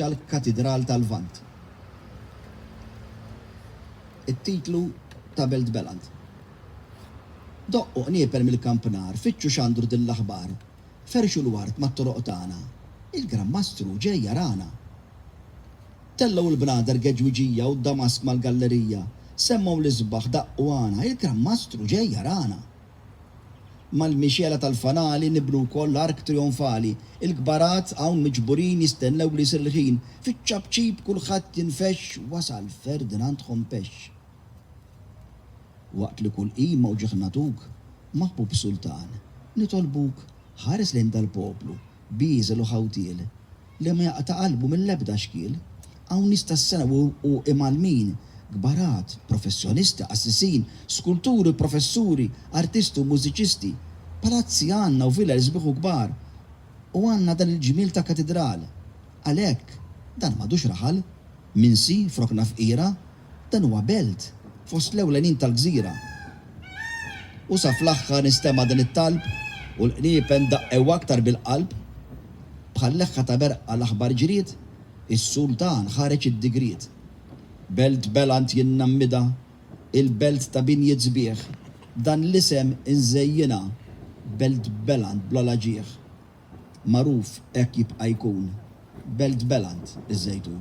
tal-Katidral tal-Lvant. It-titlu ta' Belt Beland. Doqqu qnieper mill-kampnar, fittxu xandru din l-aħbar, ferxu l-ward mat-toroq tagħna, il-Gran Mastru ġej jarana! Tellgħu l-bnader geġwiġija u d-damask mal-gallerija, semmgħu l-isbaħ, daqqu għana, il-Gran Mastru ġej jarana! Mal-mixgħela tal-fanali nibnu wkoll l-ark trijonfali. Il-kbarat hawn miġburin jistennew li jsir il-ħin. Fiċ-ċapċip kulħadd jinfexx wasal Ferdinand Ħompex. Waqt li kull qima u ġieħ nagħtuk, maħbub Sultan, nitolbuk ħares lejn dal-poplu bieżel u ħawtiel li ma jaqta' qalbu mill-ebda xkiel. Hawn nies tassew u imgħallmin, kbarat, professjonisti, qassisin, skulturi, professuri, artisti u mużiċisti. Palazzi għandna u vilel sbieħ u kbar. U għandna dan il-ġmiel ta' katidral. Għalhekk, dan m'għadux raħal, minsi, f'rokna fqira, Dan huwa belt fost l-ewlenin tal-gżira. U sa fl-aħħar nistema' din it-talb u l-qniepen daqqew aktar bil-qalb. Bħal leħħa ta' berqqa l-aħbar ġriet, is-Sultan ħareġ id-digriet. Belt Beland jien nammidha, il-belt ta' binjiet sbieħ, b'dan l-isem inżejjinha, Belt Beland bla l-aġigħ. Magħruf hekk jibqa' jkun, Belt Beland, iż-Żejtun.